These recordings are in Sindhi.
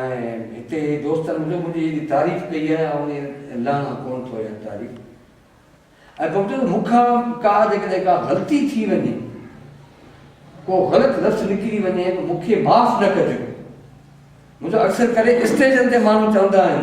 ۽ هتي دوستن منهنجو منهنجي ايڏي تعريف ڪئي آهي آئون انهي لهڻا ڪونه ٿو اها تعريف ۽ پوء چوندو مون کان ڪا جيڪڏهن ڪا غلطي ٿي وڃي ڪو غلط لفظ نڪري وڃي ته مون کي معاف نه ڪجو منهنجو اڪثر ڪري اسٽيجن تي ماڻهو چوندا آهن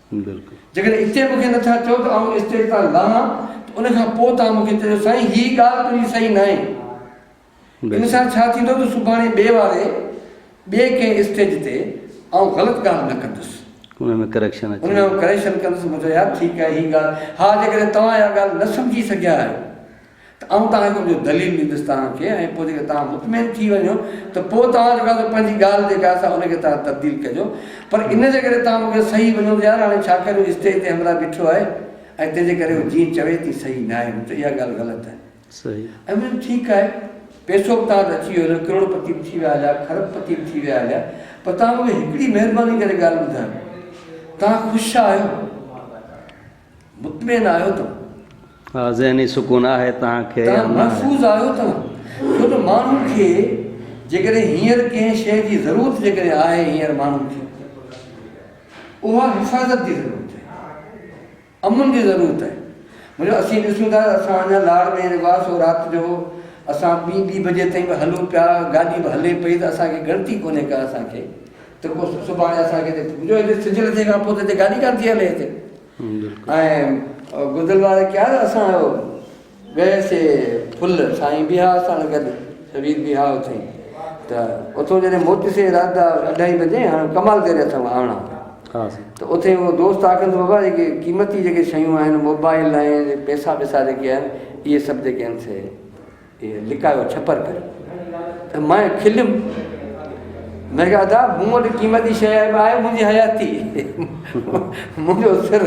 جيڪڏهن اتي مون کي نه ٿا چئو ته آئون اسٽيج تان لهان ته ان کان پوء توهان مون کي چئجو سائين هي ڳالهه تنهنجي صحيح ناهي. ان سان ڇا ٿيندو ته سڀاڻي ٻئي واري ٻئي ڪنهن اسٽيج تي آئون غلط ڳالهه نه ڪندس. ان ۾ ڪريڪشن اچي. ان ۾ آئون ڪريڪشن ڪندس. مون چيو يار ٺيڪ آهي هي ڳالهه. ها جيڪڏهن توهان اها ڳالهه نه سمجهي سگهيا آهيو. ته آئون توهان کي ان جو دليل ڏيندس توهان کي ۽ پوء جيڪڏهن توهان مطمئن ٿي وڃو ته پوء توهان جيڪو آهي سو پنهنجي ڳالهه جيڪا آهي سا ان کي توهان تبديل ڪجو پر ان جي ڪري توهان مون کي صحيح مڃو ته يار هاڻي ڇا ڪريون اسٽيج تي همراهه بيٺو آهي ۽ تنهن جي ڪري هو جيئن چوي تيئن صحيح ناهي مون چيو اها ڳالهه غلط آهي ۽ مون چيو ٺيڪ آهي پيسو به توهان وٽ اچي ويو هليو ڪروڙ پتي به ٿي ويا هليا کرب پتي به ٿي ويا هليا پر توهان مون کي هڪڙي مهرباني ڪري ڳالهه ٻڌايو توهان خوش آهيو مطمئن آهيو توهان. ها ذهني سڪون آهي توهان کي يا نه آهي. توهان محفوظ آهيو توهان. ڇو ته ماڻهن کي جيڪڏهن هينئر ڪنهن شيء جي ضرورت جيڪڏهن آهي هينئر ماڻهن کي اها حفاظت جي ضرورت آهي. امن جي ضرورت آهي. مطلب اسين ڏسون ٿا اسان اڃا لاڙ ۾ جيڪو آهي سو رات جو اسان ٻي ٻي بجي تائين به هلون پيا گاڏي به هلي پئي ته اسان کي ڳڻتي ڪونهي ڪا اسان کي ته پوء سڀاڻي اسان کي هتي جو هتي سج لٿي کان پوء ته هتي گاڏي ڪانه ٿي هلي هتي ۽ گذل واري کيال اسان ويسي پل سائين بيها سان گڏ شبير بيها اٿي ته اٿو جڏهن موٽي سي رات جا اڍائي بجي هاڻ ڪمال ڪري اٿو آڻا ته اٿي هو دوست آکن ته بابا جيڪي قيمتي جيڪي شيون آهن موبائل آهن پيسا ويسا جيڪي آهن اهي سڀ جيڪي آهن سي هي لڪايو ڇپر ڪري ته مئن کليم مئن کي ادا مون وٽ قيمتي شيء آهي آهي منهنجي حياتي منهنجو سر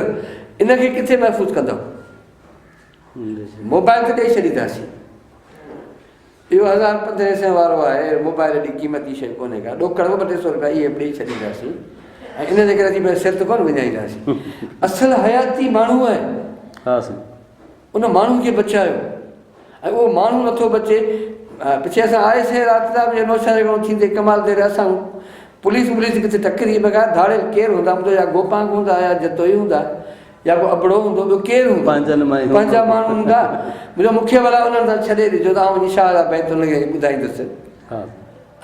ان کي ڪٿي محفوظ ڪندو موبائل ته ڏيئي ڇڏينداسين اهو هزار پندرهن سين وارو آهي موبائل ايڏي قيمتي شيء ڪونهي ڪا ڏوڪڙ ٻه ٽي سو روپيا اهي ڏيئي ڇڏينداسين ۽ ان جي ڪري سر ته ڪونه وڃائينداسين اصل حياتي ماڻهو آهي ان ماڻهو کي بچايو ۽ اهو ماڻهو نٿو بچي پڇي اسان آئي سي رات جا به نوشهري گهڻو ٿيندي ڪمال دير اسان پوليس ٻوليس ڪٿي ٽڪري بغير ڌاڙيل ڪير هوندا مون يا گوپانگ هوندا يا جتوئي هوندا يا ڪو ابڙو هوندو ٻيو ڪير هوندو پنهنجن مان پنهنجا ماڻهو هوندا منهنجو مکيه ولا انهن سان ڇڏي ڏجو ته آئون وڃي شاهه جا بيت انهن کي ٻڌائيندس ها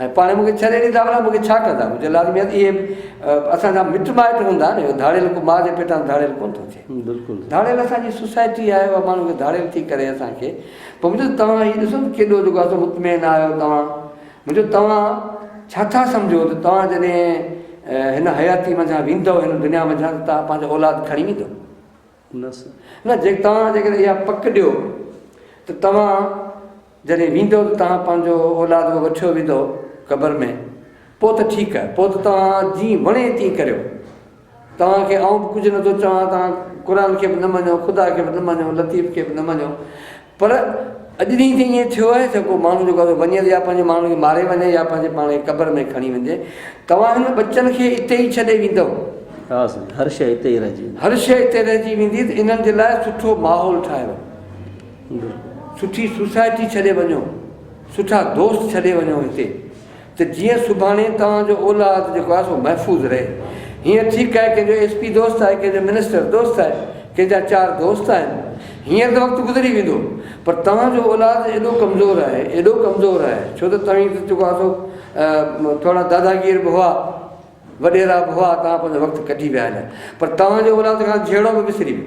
۽ پاڻ مون کي ڇڏي ڏيندا ڀلا مون کي ڇا ڪندا؟ مون چيو لازمي آهي ته اهي به اسان جا مٽ مائٽ هوندا نه، اهو ڌاڙيل ڪو ماء جي پيٽان ڌاڙيل ڪونه ٿو ٿئي. بلڪل. ڌاڙيل اسان جي سوسائٽي آهي اها ماڻهو کي ڌاڙيل ٿي ڪري اسان کي. پوء مون چيو ته توهان هي ڏسو ته ڪيڏو جيڪو آهي سو مطمئن آهيو توهان. مون چيو توهان ڇا ٿا سمجهو ته توهان جڏهن هن حياتي منجهان ويندؤ هن دنيا منجهان ته توهان پنهنجا اولاد کڻي ويندؤ؟ هونس نه جي توهان جيڪڏهن اها پڪ ڏيو ته توهان جڏهن ويندئو ته توهان پنهنجو اولاد به وٺيو ويندئو قبر ۾ پوء ته ٺيڪ پوء ته توهان جيئن وڻي تيئن ڪريو توهان کي آئون به ڪجهه نٿو چوان توهان قرآن کي به نه مڃو خدا کي به نه مڃو لطيف کي به نه مڃو پر اڄ ڏينهن تائين ائين ٿيو آهي ته ڪو ماڻهو جيڪو آهي سو وڃي ته يا پنهنجي ماڻهن کي ماري وڃي يا پنهنجي پاڻ کي قبر ۾ کڻي وڃي. توهان هن ٻچن کي اتي ئي ڇڏي ويندؤ؟ ها سائين، هر شيء اتي ئي رهجي ويندي. هر شيء اتي رهجي ويندي ته انهن جي لاء سٺو ماحول ٺاهيو. سٺي سوسائٽي ڇڏي وڃو. سٺا دوست ڇڏي وڃو هتي. ته جيئن سڀاڻي توهان جو اولاد جيڪو آهي سو محفوظ رهي. هيئن ٺيڪ آهي ڪنهن جو ايس پي دوست آهي، ڪنهن جو منسٽر دوست آهي، ڪنهن جا چار دوست آهن. هيئن ته وقت گذري ويندو پر توهان جو اولاد ايڏو ڪمزور آهي، ايڏو ڪمزور آهي ڇو ته توهين ته جيڪو آهي سو ٿورا داداگير به هئا، وڏيرا به هئا، توهان پنهنجو وقت ڪڍي ويا هيا پر توهان جو اولاد کان جهيڙو به وسري ويو.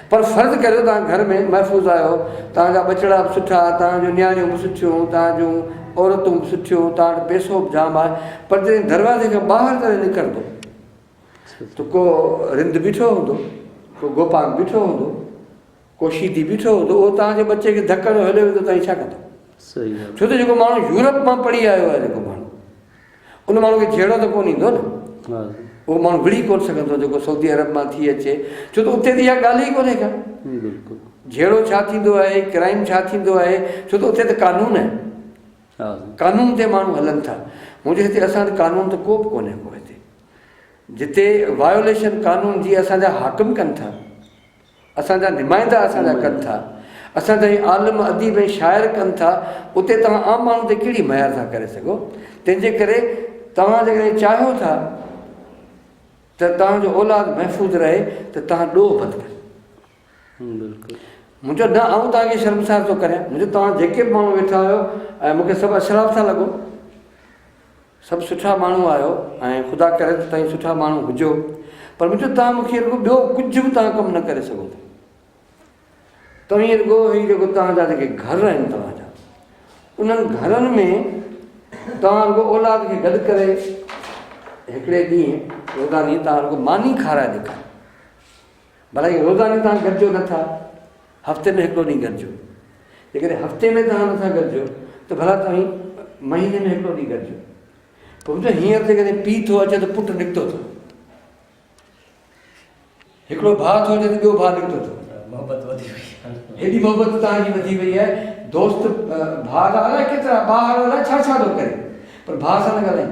پر فرض ڪريو توهان گهر ۾ محفوظ آهيو، توهان جا ٻچڙا به سٺا، توهان جون نياڻيون به سٺيون، توهان جون عورتون به سٺيون، توهان وٽ پئسو به جام آهي، پر جڏهن دروازي کان ٻاهر ڪڏهن نڪرندو ته ڪو رند بيٺو هوندو، ڪو گوپانگ بيٺو هوندو، ڪو شيدي بيٺو هوندو، اهو توهان جي ٻچي کي ڌڪ هڻيو هليو ويندو توهان ڇا ڪندا؟ ڇو ته جيڪو ماڻهو يورپ مان پڙهي آيو آهي جيڪو ماڻهو. ان ماڻهو کي جهيڙو ته ڪونه ايندو نه. اهو ماڻهو وڙهي ڪونه سگهندو جيڪو سعودي عرب مان ٿي اچي ڇو ته اتي ته اها ڳالهه ئي ڪونهي ڪا. جهيڙو ڇا ٿيندو آهي، ڪرائيم ڇا ٿيندو آهي ڇو ته اتي ته قانون آهي. قانون تي ماڻهو هلن ٿا. هونجو هتي اسان وٽ قانون ته ڪو به ڪونهي ڪو هتي. جتي وايوليشن قانون جي اسان جا حاڪم ڪن ٿا. اسان جا نمائندا اسان جا ڪن ٿا، اسان جا هي عالم، اديب ۽ شاعر ڪن ٿا، اتي توهان عام ماڻهو تي ڪهڙي مهر ٿا ڪري سگهو؟ تنهن جي ڪري توهان جيڪڏهن چاهيو ٿا ته توهان جو اولاد محفوظ رهي ته توهان ڏوهه بند ڪريو. منهنجو نه آئون توهان کي شرمسار ٿو ڪريان، منهنجو توهان جيڪي به ماڻهو ويٺا هيو ۽ مون کي سڀ اشراف ٿا لڳو. سڀ سٺا ماڻهو آهيو ۽ خدا ڪري ته توهين سٺا ماڻهو هجو پر مطلب توهان مون کي رڳو ٻيو ڪجهه به توهان ڪم نه ڪري سگهو ٿا توهين رڳو هي جيڪو توهان جا جيڪي گهر آهن توهان جا انهن گهرن ۾ توهان رڳو اولاد کي گڏ ڪري هڪڙي ڏينهن روزاني توهان رڳو ماني کارائي ڏيکاري ڀلا ايئن روزاني توهان گڏجو نه ٿا، هفتي ۾ هڪڙو ڏينهن گڏجو. جيڪڏهن هفتي ۾ توهان نه ٿا گڏجو ته ڀلا توهين مهيني ۾ هڪڙو ڏينهن گڏجو. پوء ٻڌو هينئر ته ڪڏهن پيء ٿو اچي ته پٽ نڪتو ٿو. هڪڙو ڀاء ٿو اچي ته ٻيو ڀاء نڪتو ٿو. محبت وڌي وئي آهي. هيڏي محبت توهان جي وڌي وئي آهي. دوست ڀاء جا الائي ڪيترا ٻاهر الائي ڇا ڇا ٿو ڪري پر ڀاء سان نه ڳالهائين.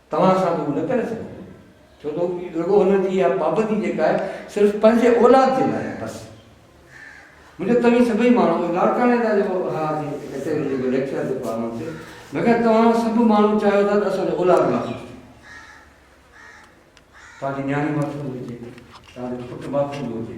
توهان سان به هو نه ڪري سگهندو ڇو ته رڳو هن جي اها پابندي جيڪا آهي صرف پنهنجي اولاد جي لاء آهي بس مونکي توهين سڀئي ماڻهو لاڙڪاڻي جا جيڪو ها جي ڪچهري جيڪو ليڪچر جيڪو آهي مون کي مگر توهان سڀ ماڻهو چاهيو ٿا ته اسان جو اولاد ماٿو توهان جي نياڻي ماٿو هجي توهان جو پٽ ماٿو هجي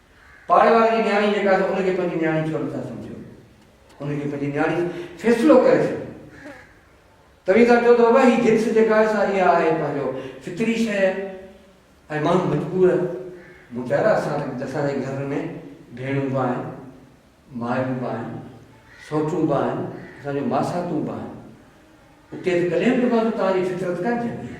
پاڙي واري جي نياڻي جيڪا آهي ان کي پنهنجي نياڻي ڇو نٿا سمجهو؟ ان کي پنهنجي نياڻي فيصلو ڪري ڇڏيو. توهين ٿا چئو ته بابا هي جنس جيڪا آهي سا اها آهي پنهنجو فطري شيء ۽ ماڻهو مجبور آهي. مون چيو يار اسان اسان جي گهر ۾ ڀيڻون به آهن، مايون به آهن، سوٽون به آهن، اسان جون ماساتون به آهن. اتي ته ڪڏهن به مان توهان جي فطرت ڪانه جهڳي آهي.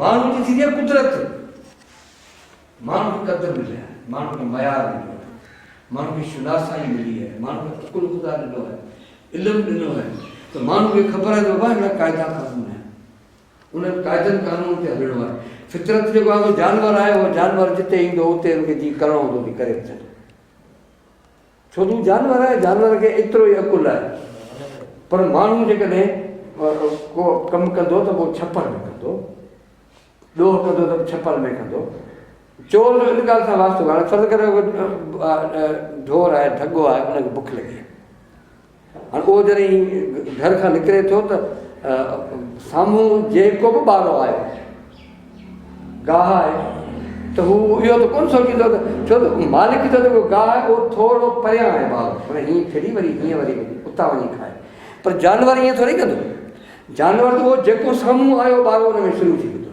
ماڻهو جي ٿيندي آهي قدرت، ماڻهو کي قدر ملي آهي، ماڻهو کي معيار مليو آهي، ماڻهو کي شناسائي ملي آهي، ماڻهو کي عقل خدا ڏنو آهي، علم ڏنو آهي ته ماڻهو کي خبر آهي ته بابا اهڙا قاعدا قانون آهن، انهن قاعدن قانونن تي هلڻو آهي. فطرت جيڪو آهي جانور آهي اهو جانور جتي ايندو اتي ان کي جي ڪرڻو هوندو ڪري اچن. ڇو جو جانور آهي جانور کي ايترو ئي عقل آهي پر ماڻهو جيڪڏهن ڪو ڪم ڪندو ته پوء ڇپر ۾ ڪندو ڏوهه ڪندو ته ڇپر ۾ ڪندو چور جو ان ڳالهه سان واسطو ڪرڻ فرض ڪريو ڍور آهي ڍڳو آهي ان کي بک لڳي هاڻ اهو جڏهن گهر کان نڪري ٿو ته سامهون جيڪو به ٻارڙو آيو گاهه آهي ته هو اهو ته ڪونه سوچيندو ته ڇو ته مالڪ جو جيڪو گاهه آهي اهو ٿورو پريان آهي ٻار پر هيئن ڦري وري هيئن وري اتان وڃي کائي پر جانور ائين ٿوري ڪندو جانور ته اهو جيڪو سامهون آيو ٻارڙو ان ۾ شروع ٿي ويندو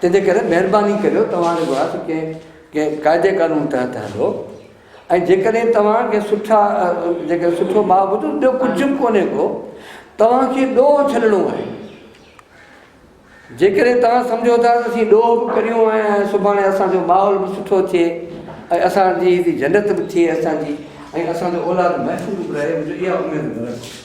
تنهنجي ڪري مهرباني ڪريو توهان رڳو آهي ته ڪنهن ڪنهن قاعدي قانون تحت هلو ۽ جيڪڏهن توهان کي سٺا جيڪڏهن سٺو ماء ٻڌو ٻيو ڪجهه به ڪونهي ڪو توهان کي ڏوهه ڇڏڻو آهي جيڪڏهن توهان سمجهو ٿا ته اسين ڏوهه به ڪريون ۽ سڀاڻي اسانجو ماحول به سٺو ٿئي ۽ اسانجي جنت به ٿئي اسانجي ۽ اسانجو اولاد محفوظ به رهي منهنجو اها اميد نه رکو